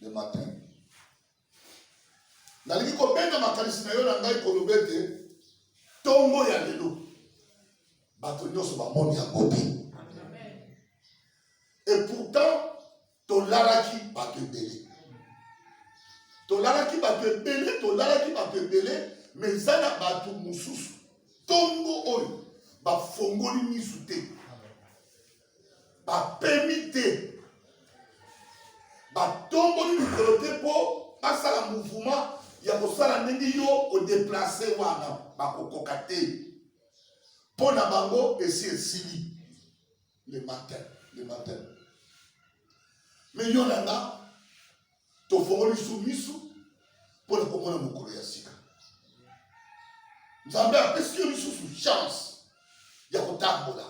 le matin nalingi kobenda makanisi na yo na ngai koloba ete ntongo ya lelo bato nyonso bamoni yango te et pourtant tolalaki bato ebele tolalaki bato ebele tolalaki bato ebele me eza na bato mosusu ntongo oyo bafongoli misu te bapemi te batomboli mikolo te mpo basala mouvement ya kosala ndenge yo odeplace wana bakokoka te mpo na bango esi esili le matin le matin me yo na nga tofongoli su misu mpo na komona mokolo ya sika nzambe apesi yo lisusu chance ya kotambola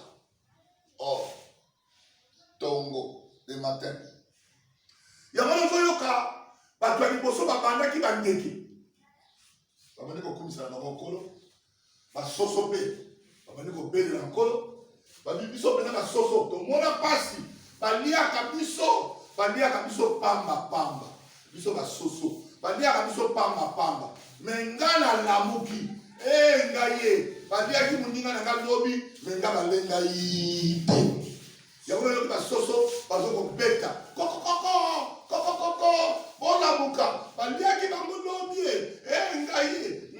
or tongo de matin yango nazoyoka bato ya liboso babandaki bandeke babandi kokumisa na bango nkolo basoso mpe babandi kobelela nkolo babi biso mpenza basoso tomona mpasi baliaka biso baliaka biso pamba pamba biso basoso baliaka biso pamba pamba me nga nalamuki e nga ye baliaki moninga na nga lobi me nga balenga yi te yango nayoki basoso bazo kobeta kokokoko kokokoko bolamuka baliaki bango lobi e ngai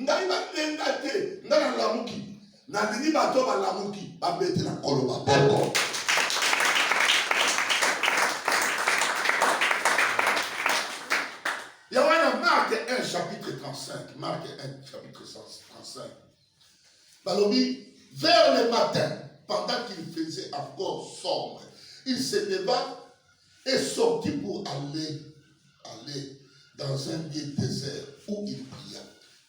ngai balenga te nga nalamuki Nalingi bato balamuki babetela nkolo maboko. Ya wana Mark 1 chapitre 35, Mark 1 chapitre 35. Balobi vers le matin pendant qu'il faisait encore sombre, il se leva est sorti pour aller, aller dans un lieu désert où il pria.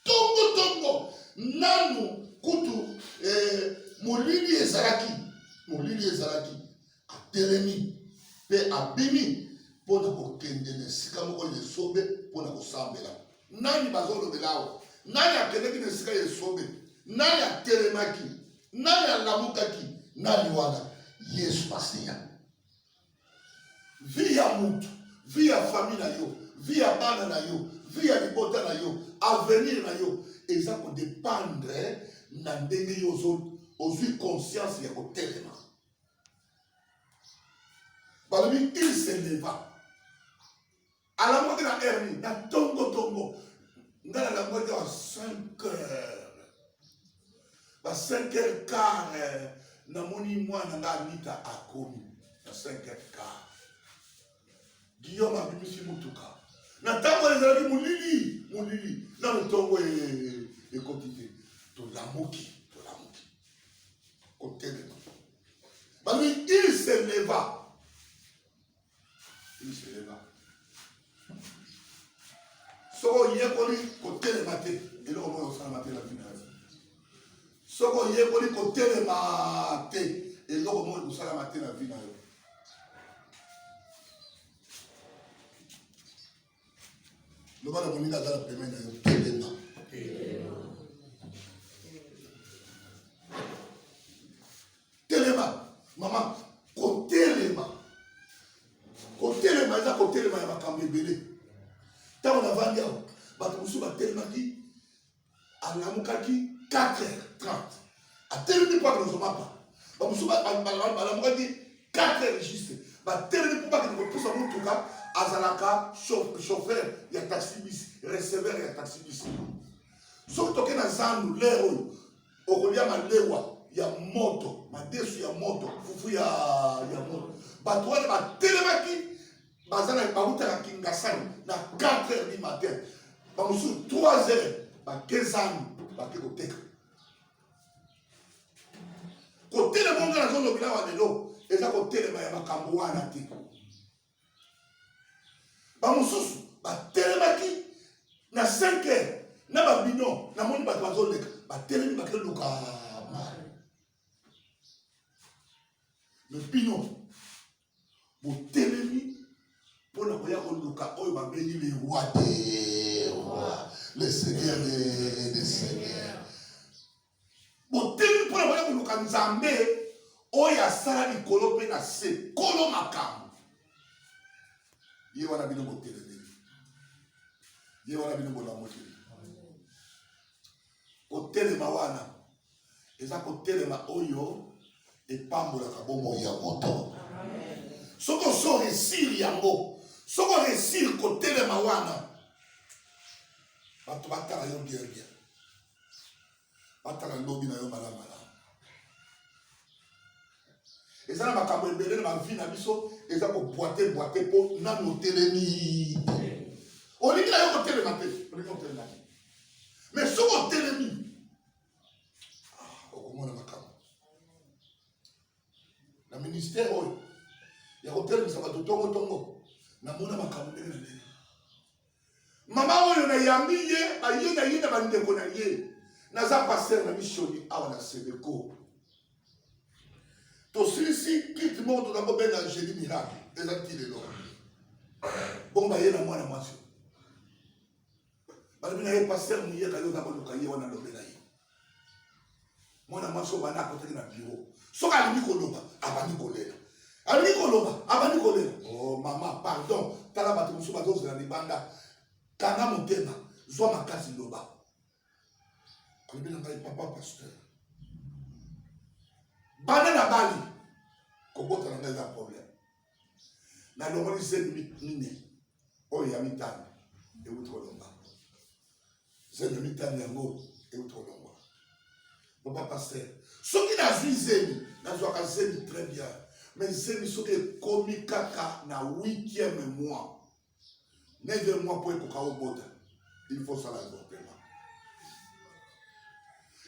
Tongo tongo, nanu kutu eh, molili ezalaki, molili ezalaki, atelemi mpe abimi mpo na kokende na esika moko ya esobe mpo na kosambela. Nani bazolobela awa? Nani akendeki na esika ya esobe? Nani atelemaki? Nani alamukaki? Nani wana? Yesu Masiya. vie ya mutu vie ya famille na yo vie ya bana na yo vie ya libota na yo avenir na yo eza kodependre na ndenge yo ozwi conscience ya kotelema balobi il se leva alango te na heure nini na tongo tongo ngai nalango te wa 5 heures ba 5 heures quart eh, namoni mwana ngai anita akomi na 5 heures quart guillaume abimisi motuka na ntango oyo ezalaki molili molili na motongo e, e, e, ekoti te tolamuki tolamuki kotelema balobi il se leva iseleba soko oyekoli kotelema te eloko moko osalama te na bino soki oyekoli kotelema te eloko moko ekosalama te na vi na yo loba na moninga aza na peme na yo telema telema mama kotelema kotelema eza kotelema ya makambo ebele ntango navandi awa bato mosusu batelemaki alamukaki 4h30 atelemi mpo akende kozwa mapa bamosusu balamukaki 4h juste batelemi mpo bakende kopusa motuka azalaka chauffeur ya taxibis receveur ya taxibis soki toke na zandu lere oyo okolia malewa ya moto madesu ya moto fufu ya moto bato wana batelemaki baza na bautaka kingasani na 4 heures du matin bamosusu 3 heures bakezani bake koteka kotelema onga nazolobela wa lelo eza kotelema ya makambo wana te bamosusu batelemaki na 5 heures na babino namoni bato bazoleka batelemi bakeluka mare me bino botelemi mpo na koya koluka oyo babengi le roi de roi le seigneur de, de seigneur botelemi mpo na koya koluka nzambe oyo asala likolo mpe na se kolo makambo ye wana bino botelemeli ye wana bino bolamoteli kotelema wana eza kotelema oyo epambolaka bomoi ya moto soki oso resir yango soki oresir kotelema wana bato batala yo bien bien batala lobi na yo malamu malamu eza na makambo ebele na bavi na biso eza kobwate bwate mpo nanu otelemi olingi na yo kotelema te olingi otelema te me soki otelemi ah, okomona makambo na ministère oyo ya kotelemisa bato tongo tongo namona makambo ndenge na ndenge mama oyo nayambi ye baye na ye na bandeko na ye naza paster na misioni awa na sebeko tosilisi kiti moko toza kobenga angeli miracle eza ti lelo bongo baye na mwana mwasi balobi na ye paster moyeka yo oza koluka ye wana lobela ye mwana mwasi obanda akotaki na biro soki alingi koloba abandi kolela alingi koloba abandi kolela oh, mama pardon tala bato mosusu bazozela libanda kanga motema zwa makasi loba alobi na ngai papa pasteur banda na bali kobota na ngai eza problème nalongoli zemi mine oyo ya mitano euti kolomba zemi mitano yango euti kolomba papa paster soki nazwi zemi nazwaka zemi très bien mais zemi soki ekomi kaka na huitième mois 9 mois mpo ekoka obota il faut sala avortement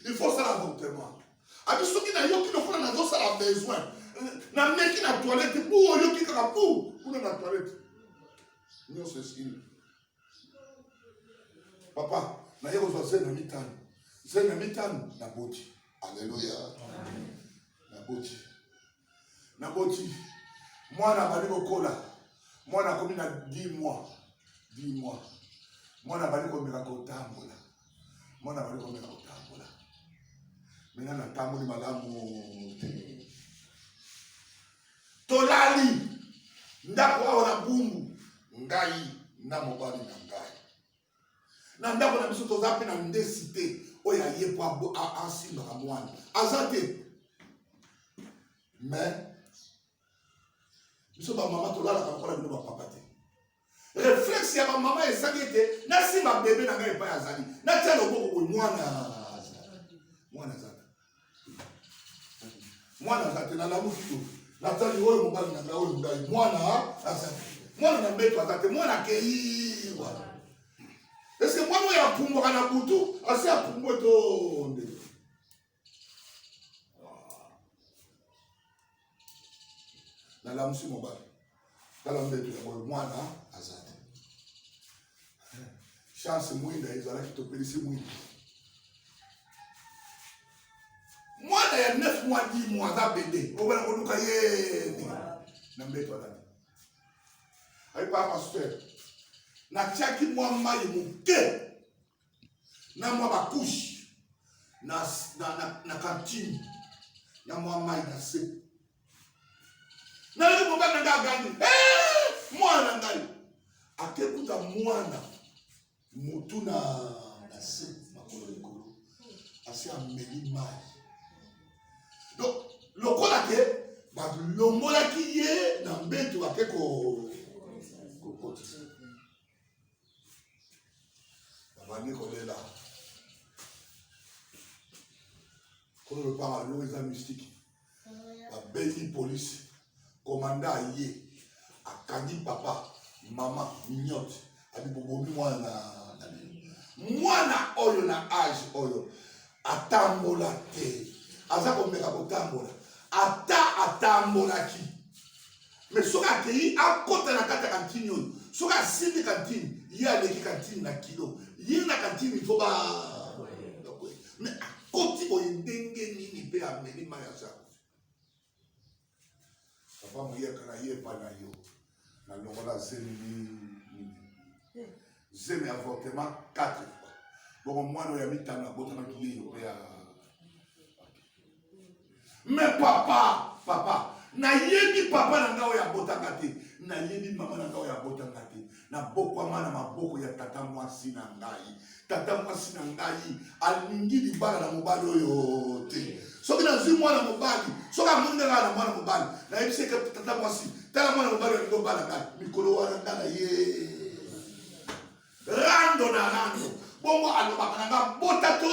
il faut sala avortement abi soki nayoki lokola nazosala besoin nameki na toilette bu oyoki kaka bu kuna na toilette nyonso esili papa naye kozwa zemi na mitano zemi na mitano naboti aleluya naboti naboti mwana abandi kokola mwana akomi na 10 mois 10 mois mwana abandi komeka kotambola mwana abandi komeka kotambola mena natamboli malamu te tolali ndako awa na bumbu ngai na mobali na ngai na ndako na biso toza mpe na ndesi te oyo aye mpo asimbaka mwana aza te me biso bamama tolalaka lokola bino bapapa te reflexe ya bamama ezali ete nasimba bebe na ngai epai azali natya loboko boye mwana mwana azali mwana aza te nalamuki to natali oyo mobali na ngai oyo ngai mwana aza te mwana na mbeto aza te mwana akei wana eske mwana oyo apumbwaka na butu asi apumbwe to nde nalamusi mobali tala mbeto ya boye mwana aza te chance mwinda ezalaki topelisi mwinda mwana ya 9 mois 10 mois aza bebe obana koluka ye na mbeto alani ayepa pasteur natiaki mwa mai moke na mwa bakushi na, na, na, na kantini na mwa mai na se nayoki mobali na ngai agangi eh, mwana na ngai akekuta mwana motu na na se makolo likolo asi ameli mai donc lokola ke balongolaki ye na mbetu ake kokotisa babandi kolela kono lopanga lelo eza mystike babengi polisi komanda aye akangi papa mama mignote abi bobomi mwana na bino mwana oyo na age oyo atambola te aza komeka kotambola ata atambolaki mais soki akeyi akota na kati ya kantini oyo soki asimbi kantini ye aleki kantini na kilo ye na kantini fo ba mais akoti boye ndenge nini mpe ameli mai ya zako papa moyaka na ye epai na yo na longola zemi zemi avortement 4 fois bongo mwana oyo ya mitano abotamaki ye yo mpe ya Mais papa, papa, nayebi papa na ngai oyo abotaka te nayebi mama na ngai oyo abotaka te nabokwama na maboko ya tata mwasi na ngai tata mwasi na ngai alingi libala na mobali oyo te soki nazwi mwana mobali soki amoni ngai na mwana mobali nayebisi eke tata mwasi tala mwana mobali olingi obala ngai mikolo wana ngai na ye rando na rando bongo alobaka na ngai bota to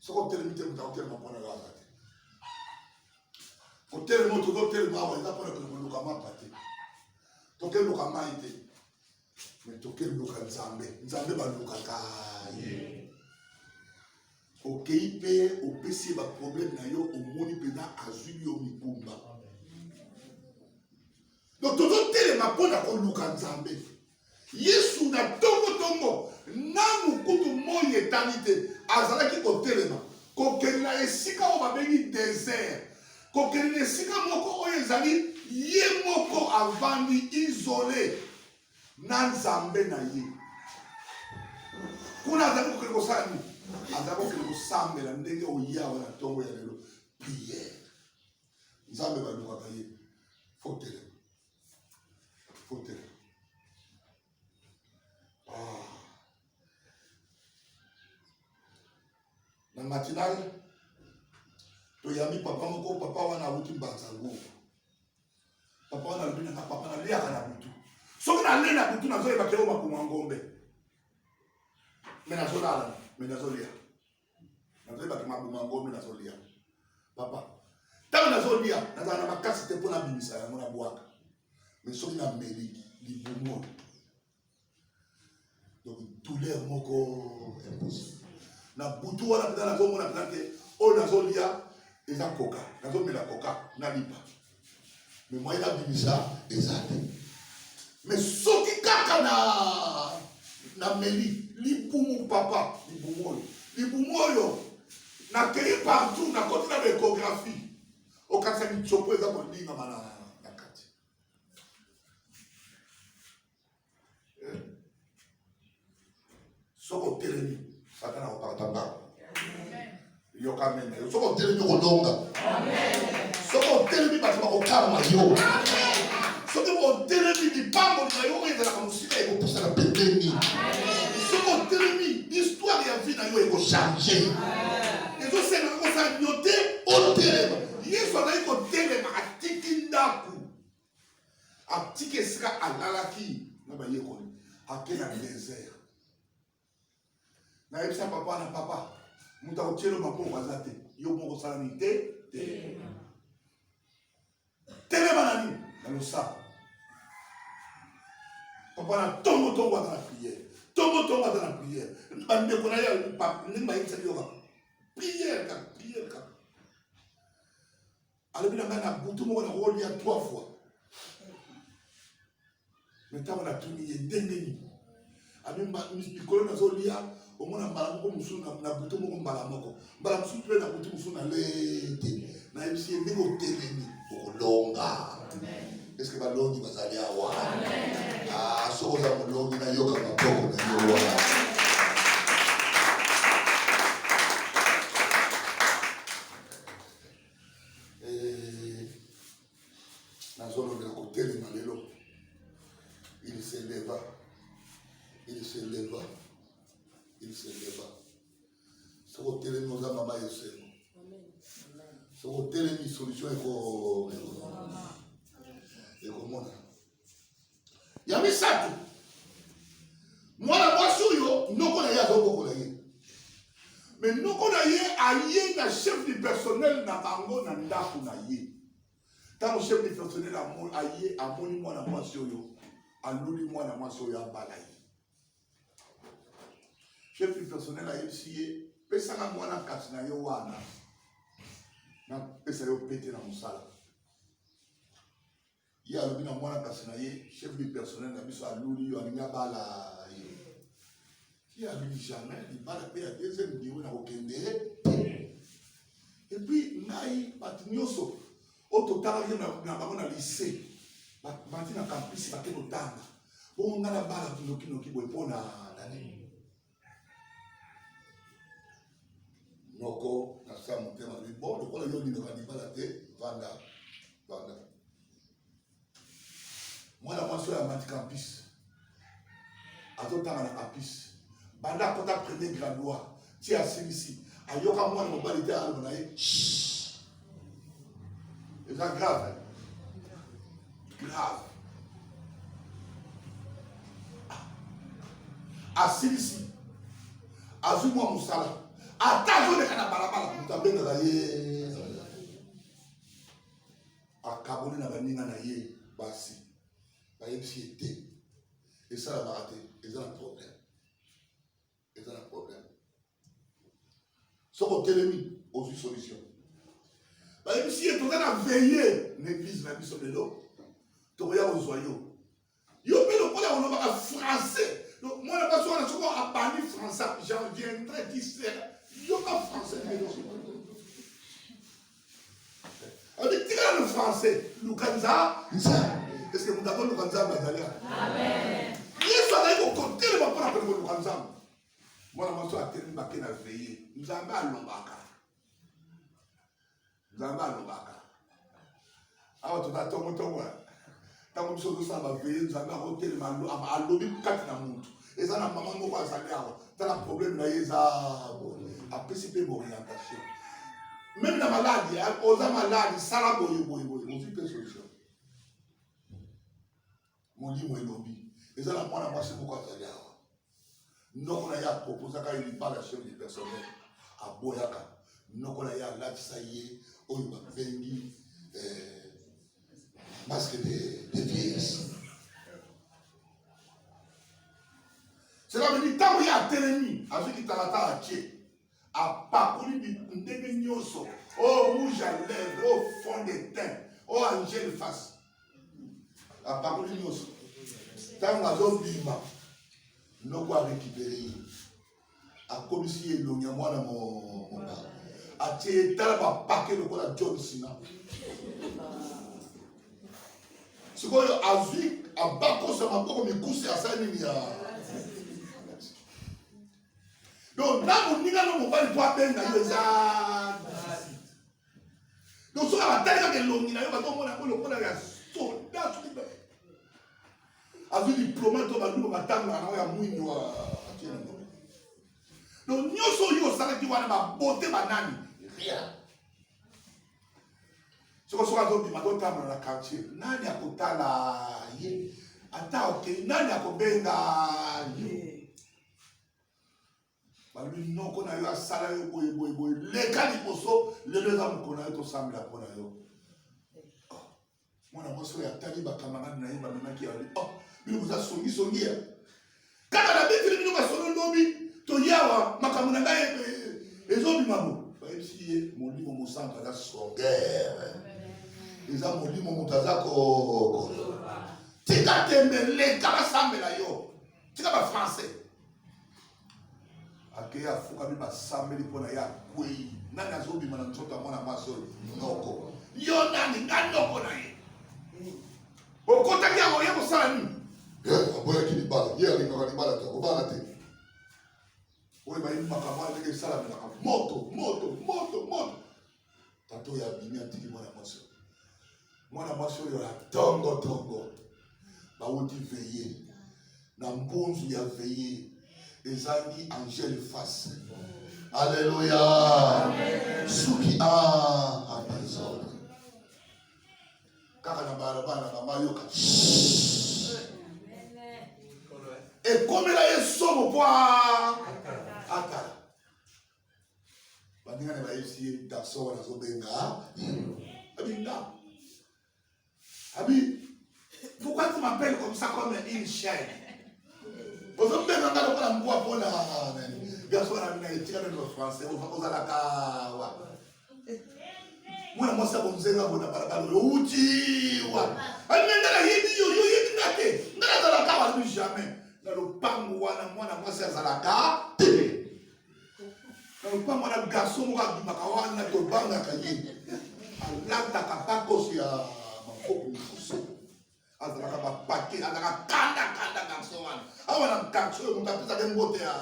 soki otelemi te moto akotelema mpo na yo aza te kotelema oyo tozo telema awa eza mpo na kende koluka mapa te toke luka mai te me toke luka nzambe nzambe balukaka ye okei mpe opesi ye baproblème na yo omoni mpenza azwi yo mikumba donc tozotelema mpo na koluka nzambe Yesu na tongo-tongo, nanu kutu moi etani te, azalaki kotelema, kokende na esika oyo babengi desert, kokende na esika moko oyo ezali ye moko avandi isole na Nzambe na ye. Kuna azali kokende kosala nini? Azali kokende kosambela ndenge oyawa na tongo ya lelo, priere. Nzambe balukaka ye, fotelema. Fote. Ah. Na matinale toyambi papa moko papa wana awuti mbanza ngubu papa wana alobi nanga papa naleyaka na butu soki nalei na butu nazoyeba keo makoma ngombe me nazolala me nazolia nazali bato mabuma ngomi nazolia papa ntango nazolia nazala na makasi te mpo nabimisa yango na bwaka me soki nameli libumu oyo donc douleur moko impossible na butu wana mpenza nazomona mpenza te oyo nazolia eza koka nazomela koka nalipa mais moyen abimisa eza te mais soki kaka na na meli libumu papa libumu oyo libumu oyo nakeyi partout nakoti na baekographie okatisa mitsopo eza kolingama na soki otelemi satana akokata ndako yoka mene yo soki otelemi okolonga soki otelemi bato bakokalma yo soki otelemi lipamboli na yo oyo ezalaka mosika ekopusana pembeni soki otelemi histoire ya vie na yo ekochange ezosenaka kosala nyo te otelema yesu azali kotelema atiki ndako atiki esika alalaki na bayekoli ake na desert nayebisa papa na papa moto akotyelo maboko aza te yo moko osala nini te te telema na nini na losapo papa na ntongo ntongo ata na priere ntongo ntongo ata na priere bandeko na ye ndenge bayebisaki yoka priere kaka priere kaka alobi na ngai na butu moko nakolia trois fois me ntango natuni ye ndenge nini abi mikolo nazolia omona mbala moko mosusu na butu moko mbala moko mbala mosusu mpe na butu mosusu na lete nayebisi ye ndenge otelemi okolonga eske balongi bazali awa ah, soki oza molongi nayoka maboko na yo wana eh, nazolobela kotelema lelo il se leva il se leva il se leva soki otelemi oza mama ya esengo soki otelemi solution ekomona ya misato mwana mwasi oyo noko na ye azobokola ye me noko na ye aye na chef du personnel na bango na ndako na ye ntango chef du personnel aye amoni mwana mwasi oyo aluli mwana mwasi oyo abala ye chef du personnel ayebisi ye pesaka mwana kati na yo wana napesa yo pete na mosala ye alobi na mwana kasi na ye chef du personnel na biso aluli yo alingi abala ye ye alobi jamais libala mpe ya deuxième biro na kokende epuis ngai bato nyonso oyo totalaki na bango na lycée bati na campus bake kotanga bongo ngai nabala nokinoki boye mpo na nani moko na sa motema lobi bon lokola yo olingaka libala te vanda vanda mwana mwasi oyo amati campus azotanga na campus banda akota premier graduat ti asilisi ayoka mwana mobali te aloba na ye eza grave grave asilisi azwi mwa mosala ata azoleka na balabala moto abengaka ye akaboli na baninga na ye basi bayebisi ye te esalamaka te eza na problème eza na problème soki otelemi ozwi solution bayebisi ye toza na veille na eglise na biso lelo tokoya kozwa yo yo mpe lokola olobaka français mwana basi wana soko abandi français j'en viendrai disere yoka français na eloko Odi tika le français, lukanza nza. Est-ce que mutako lukanza bazali? Amen. Yesu azali kokotelema mpo na kolinga luka Nzambe. Mwana mwasi oyo atelemi bake na veye, Nzambe alobaka. Nzambe alobaka. awa toza tongo tongo ntango biso tozosala baveye nzambe akotelema alobi kati na motu eza na mama moko azali awa tala probleme na ye eza apesi mpe borientation meme na maladi oza maladi sala boye boye boye ozwi mpe solution Molimo elobi eza na mwana mwasi moko azali awa, noko na ye apropozaka ye libala sur du personnel, aboyaka noko na ye alatisa ye oyo babengi eh, masque de, de piese cela veut dire ntango ye atelemi azwi kitalatala tie apakoli bitu ndenge nyonso o oh, rouge à lèvre o oh, fond de teint o oh, angel face apakoli nyonso ntango azobima noko arekipere ye akomisi ye elongi ya mwana mobala atie ye tala bapake lokola john sina sikoyo azwi abakosa maboko mikuse asali nini ya donc na moninga no mobali mpo abenga yo eza donc soki abatali kaka elongi na yo batomona yango lokola ya soda soki azwi diploma to baluba batangaka nango ya mwindu atie na moto donc nyonso oyo osalaki wana babote banani rien soko soki azobima totambola na quartier nani akotala ye ata okei nani akobenga ye balobi noko na yo asala yo boye boye boye leka liboso lelo eza mokolo na yo tosambela mpo na yo oh, mwana mwasi oyo atali bakamarade na ye bamemaki yali o oh, bino boza songisongi ya kaka na beteli bino masolo lobi toyawa makambo na ngai ezobima bo bayebisi ye molimo mosantu aza songere eza molimo moto aza ko tika tembe leka basambela yo tika ba français akeyi afukami basambeli mpo na ye akwei nani azobima na nzoto ya mwana mwasi oyo noko yo nani nga noko na ye okotaki yango ye kosala nini aboyaki libala ye alingaka libala te kobala te oyo bayebi makambo wana ndenge esalamelaka moto moto moto moto Tata oyo abimi atiki mwana mwasi oyo. Mwana mwasi oyo ya tongo tongo bawuti veye na mbunzu ya veye ezangi angele face. Aleluya suki a ah, apesole kaka na balabala mama yoka ekomela ye somo mpo atala baninga na bayebisi ye garçon wana azobenga abinda abi pourquoi tu m'appelles comme ça comme une chaîne ozobenga nga lokola mbwa mpo na nani garçon wana abinda etika nani ba français ozalaka wa mwana mwasi akomzenga ngo na balabala oyo outi wa abinda nga nayebi yo yo yebi nga te nga nazalaka wana jamais na lopango wana mwana mwasi azalaka te na lopango na garçon moko abimaka wana tobangaka ye alataka bakoso ya maboko mosusu azalaka bapake azalaka kanda kanda garçon wana awa na quartier oyo moto apesaka mbote ya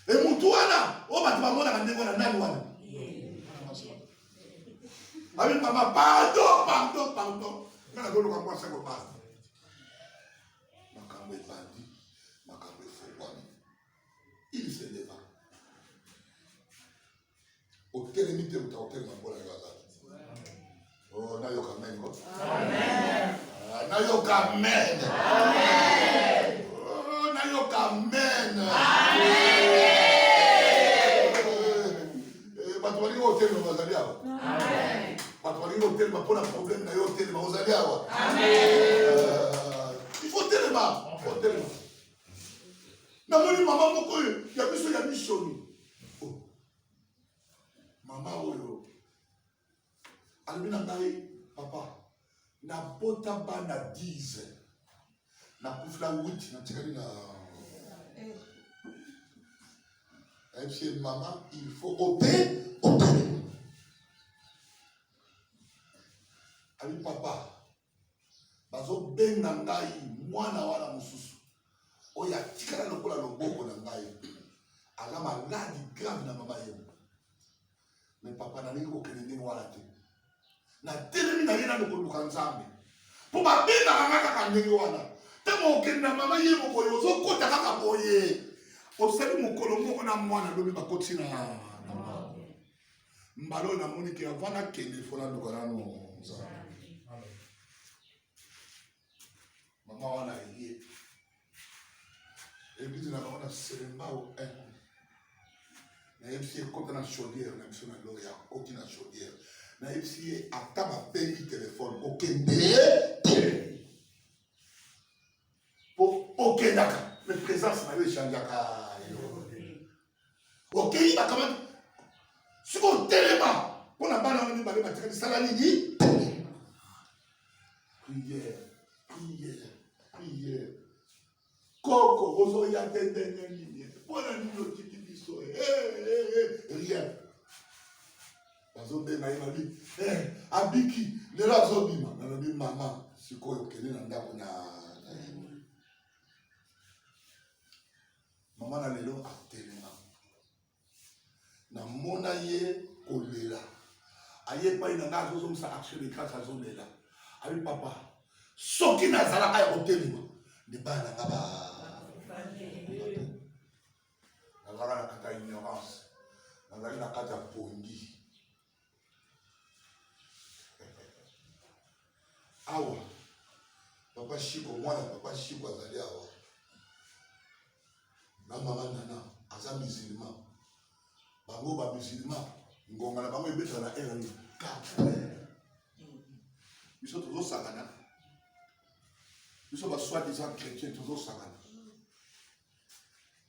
e motu wana oyo bato bamonaka ndenge wana nani wana abi mama pardon pardon pardon nga nazoluka mwasi ya kobasa Makambo ebandi, makambo efungwami. Il se leva. Otelemi te moto akotelema mpo na yo azali. Oh, nayoka amen ko. Amen. Ah, nayoka amen. Amen. Oh, nayoka amen. Amen. Eh, bato balingi otelema bazali awa bato balingi otelema mpo na problème na yo otelema ozali awa il faut telema faut telema namoni mama moko oyo ya biso ya misoni oh. mama oyo alobi na ngai papa nabota bana 10 nakufila wuti natikali na ayebisi ye mama il faut obe obele abi papa bazobenga ngai mwana wana mosusu oyo atikala lokola loboko na ngai aza maladi grave na mama ye me papa nalingi kokende ndenge wana te natelemi na ye nano koluka nzambe mpo babengaka nga kaka ndenge wana ntango okende na mama ye mokoyo ozokota kaka boye osali mokolo moko na mwana lobi bakoti na mbala oyo namoni ke avant nakende fo naluka nano nzambe mama wana ye eglise na bango na selembao nayebisi ye kota na chaudiere na biso na loya akoti na chaudiere nayebisi ye ata babengi telefone kokende te mpo okendaka me présence na yo echangeaka okeyi bakamati soki otelema mpo na bana wana mibale batika misala nini priere priere priere koko ozoya te ndenge nini mpo na nini otiki biso eh, eh, eh, rien bazobenga ye babi abiki lelo azobima nalobi mama sikoyo okende na ndako na Mama na lelo atelema, namona ye kolela, aye epai na ngai, azozongisa action de grâce, azolela abi papa, soki nazalaka ya kotelema nde bana na nga ba nazalaka na kati ya ignorance, nazali na kati ya pongi, awa papa shiko mwana papa shiko azali awa na mama nana aza musulma bango ba musulma ngonga na bango ebeta na heure nini biso tozosakana biso baswadi za chrétien tozosakana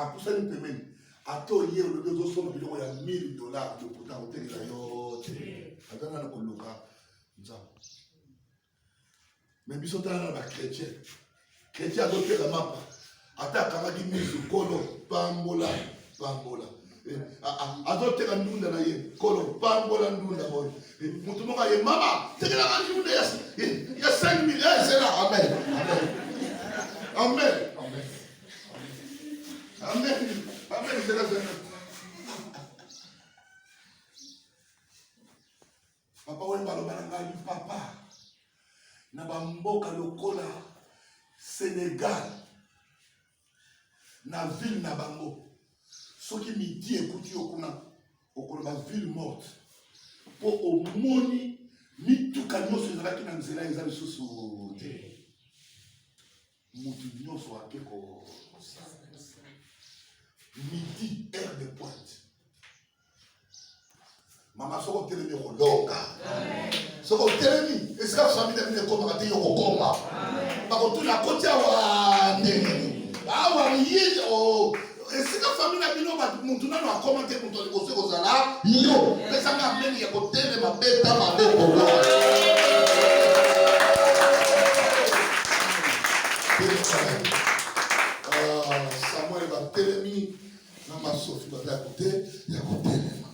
apusani pembeni ata oye olobi ozosomba biloko ya 1000 dolar lokuta kotelela yo te aza nana koluka nzambe me biso tala na bachrétien chrétien azotela mapa ata akangaki misu kolo pambola pambola eh, ah, ah, azoteka ndunda na ye kolo pambola ndunda oyo eh, motu moko aye mama tekelaka ndunda ya 5 mille ezela amen amen amen amen zela zela papa oyo baloba na ngai papa na bamboka lokola senegal na ville na bango soki midi ekuti yo kuna okoloba ville morte mpo omoni mituka nyonso ezalaki na nzela eza lisusu te motu nyonso ake ko midi heure de pointe mama soko otelemi okolonga soko otelemi esika fami na bino ekomaka te yokokoma bakotuna koti awa ndenge awa ye oh, esika fami na bino motu nano akoma te moto liboso ekozala yo pesanga ameni ya kotelema beta maboko na masofi baza ya kote ya kotelema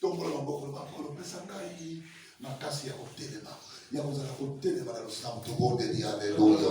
tombola maboko na makolo pesa ngai makasi ya kotelema ya kozala kotelema na losambo tobondeli aleluya